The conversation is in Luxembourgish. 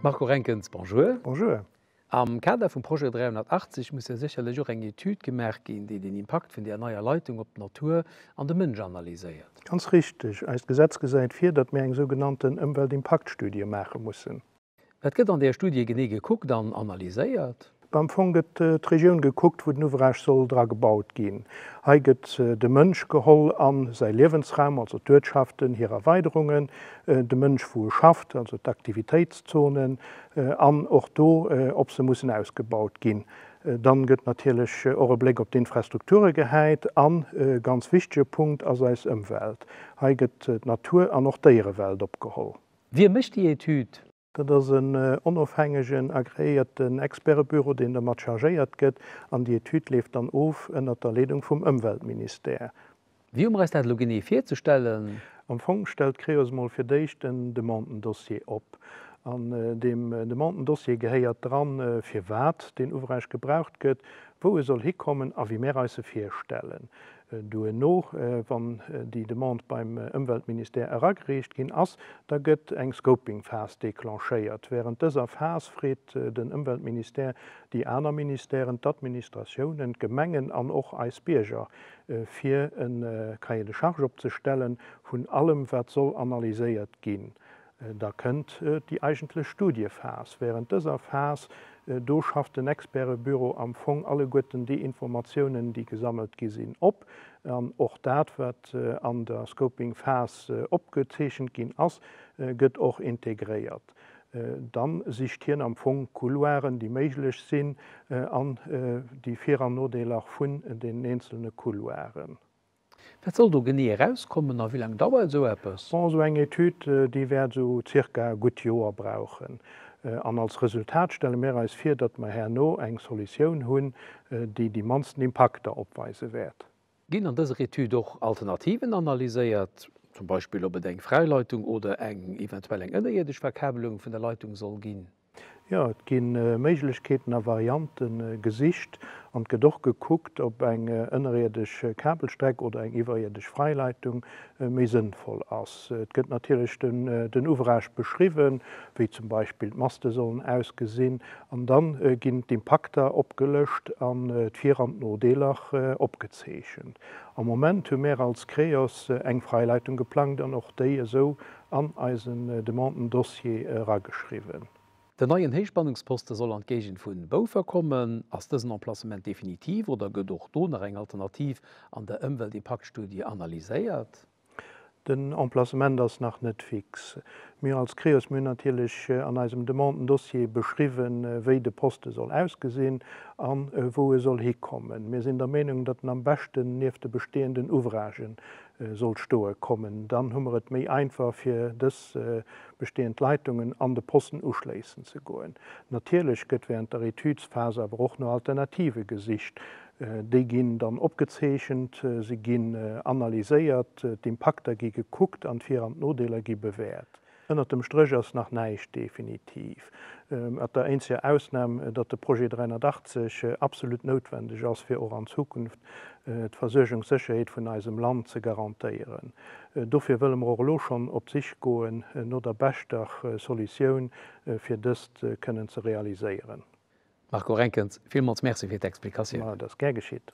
Marco Renkens, Bonjour. Bonjour. Am Kader vum Projet 380 muss jo sécherlech och eng Etüd gemaach ginn, déi den Impakt vun där neier Leitung op d'Natur an de Mënsch analyséiert. Ganz richteg. Eist Gesetz gesäit vir, datt mir eng sougenannten Ëmweltimpaktstudie maache mussen. Wat gëtt an där Studie genee gekuckt an analyséiert? Am Fong gëtt d'Regioun gekuckt, wou den Ouvrage soll dra gebaut ginn. Hei gëtt de Mënsch geholl a säi Liewensraum, also d'Uertschaften, hir Erweiderungen, de Mënsch, wou e schafft, also d'Aktivitéitszonen, an och do, ob se mussen ausgebaut ginn. Dann gëtt natierlech och e Bléck op d'Infrastrukture gehäit a ganz wichtege Punkt ass eis Ëmwelt. Hei gëtt d'Natur an och d'Déierewelt opgeholl. Wie mécht déi Etüd? Dat ass en onofhängegen, agreéierten Expertebüro, deen dermat chargéiert gëtt, an déi Etüd leeft dann of ënnert der Leedung vum Ëmweltministère. Wéi hu mer eis dat elo genee virzestellen? Am Fong stellt d'Creos mol fir d'éischt en Demandendossier op. An deem Demandendossier gehéiert dran, firwat deen Ouvrage gebraucht gëtt, wou e soll hikommen a wéi mär eis e virstellen. Duerno, wann déi Demande beim Ëmweltministère eragereecht ginn ass, da gëtt eng Scoping-Phas declenchéiert. Wärend dëser Phas freet den Ëmweltministère déi aner Ministèren, d'Administratiounen, d'Gemengen an och eis Bierger, fir e Cahier de charges opzestellen vun allem, wat soll analyséiert ginn. Da kënnt déi eigentlech Studiephas. Wärend dëser Phas do schafft den Expertebüro am Fong alleguerten déi Informatiounen, déi gesammelt gi sinn, op. An och dat, wat an der Scoping-Phas opgezeechent ginn ass, gëtt och integréiert. Da sicht hien am Fong d'Couloiren, déi méiglech sinn, an déi Vir an Nodeeler vun den eenzelne Couloiren. Wat soll do genee erauskommen a wéi laang dauert esou eppes? Bon, esou eng Etüd, déi wäert esou zirka e gutt Joer brauchen. An als Resultat stelle mir eis vir, datt mer herno eng Solutioun hunn, déi déi mannsten Impakter opweise wäert. Ginn an dëser Etüd och Alternativen analyséiert, zum Beispill ob et eng Fräileitung oder eng eventuell eng ënnerierdesch Verkabelung vun der Leitung soll ginn? Jo, et gi Méiglechkeeten a Variante gesicht an et gëtt och gekuckt, ob eng ënnerierdesch Kabelstreck oder eng iwwerierdesch Freileitung méi sënnvoll ass. Et gëtt natierlech den Ouvrage beschriwwen, wéi zum Beispill d'Maste sollen ausgesinn, an da ginn d'Impakter opgelëscht an d'Vir an d'Nodeeler opgezeechent. Am Moment hu mär als Creos eng Freileitung geplangt an och déi esou an eisen Demanden-Dossier erageschriwwen. Den neien Héichspannungsposte soll an d'Géigend vu Boufer kommen. Ass dësen Emplacement definitiv oder gëtt och do nach eng Alternativ an der Ëmweltimpaktstudie analyséiert? Den Emplacement ass nach net fix. Mir als Creos, mir hunn natierlech an eisem Demanden-Dossier beschriwwen, wéi de Poste soll ausgesinn a wou e soll hikommen. Mir sinn der Meenung, datt en am beschten nieft de bestehenden Ouvragen soll stoe kommen, dann hu mer et méi einfach fir dës bestehend Leitungen an de Posten uschléissen ze goen. Natierlech gëtt während der Etüdsphas awer och no Alternative gesicht. Déi ginn dann opgezeechent, se ginn analyséiert, d'Impakter gi gekuckt an d'Vir an d'Nodeeler gi bewäert. Ënnert dem Stréch ass nach näischt definitiv, mat der eenzeger Ausnahm, datt de Projet 380 absolut noutwendeg ass, fir och an Zukunft d'Versuergungssécherheet vun eisem Land ze garantéieren. Dofir wëlle mer och elo schonn op d'Sich goen no der beschter Solutioun, fir dëst kënnen ze realiséieren. Marco Renkens, villmools Merci fir d'Explikatioun. Et ass gär geschitt.